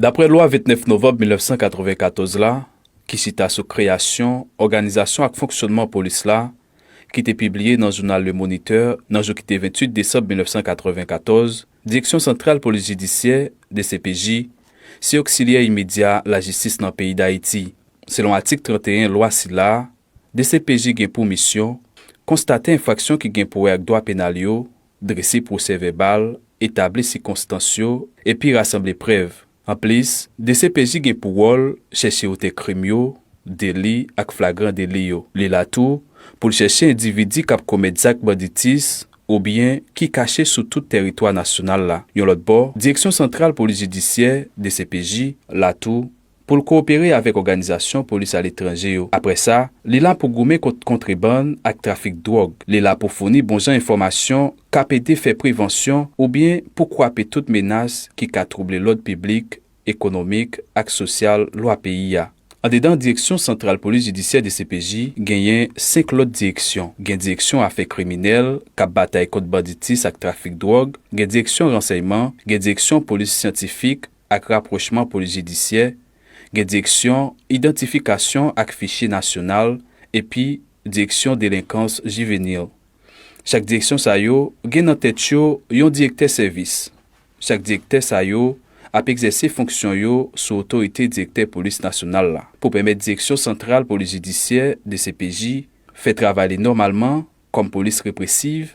Daprè lwa 29 novanb 1994 la ki chita sou kreyasyon, òganizasyon ak fonksyònman polis la, ki te pibliye nan jounal Le Moniteur nan jou ki te 28 desanm 1994, Direksyon santral polis jidisyè, dcpj, se oksilyè imedya lajistis nan peyi Dayiti, selon atik 31 lwa sila, dcpj gen pou misyon konstate enfraksyon ki gen pou wè ak dwa penal yo, drese pwosè vèbal, etabli sikonstans yo epi rasanble prèv. Anplis, dcpj gen pou wòl chèche otè krim yo, deli ak flagran deli yo. Li la tou pou l chèche endividi k ap komèt zak banditis oubyen ki kache sou tout tèritwa nasyonal la. Yon lòt bò, Direksyon santral polis jidisyè, dcpj, la tou pou l kowopere avèk òganizasyon polis aletranje yo. Apre sa, li la pou goumen kont kontrebann ak trafik dwòg. Li la pou founi bonjan enfòmasyon k ap ede fè prevansyon oubyen pou kwape tout menas ki ka twouble lòd piblik, ekonomik ak sosyal lwa peyi a. Andedan Direksyon Santral Polis Jidisyè, dcpj, genyen senk lòt direksyon. Gen Direksyon Afè Kriminèl, k ap batay kont banditis ak trafik dwòg, gen Direksyon Ransèyman, gen Direksyon Polis Syantifik, ak rapwochman polis jidisyè, gen direksyon idantifikasyon ak fichye nasyonal epi direksyon delenkans jivenil. Chak direksyon sa yo gen nan tèt yo yon direktè sèvis. Chak direktè sa yo ap egzèse fonksyon yo sou otorite direktè polis nasyonal la pou pèmèt direksyon santral polis jidisyè, dcpj, fè travay li nòmalman kòm polis represiv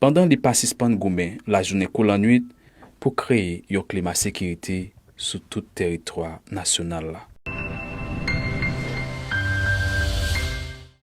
pandan li pa sispann goumen lajounen kou lannwit pou kreye yon klima sekirite sou tout teritwa nasyonal la.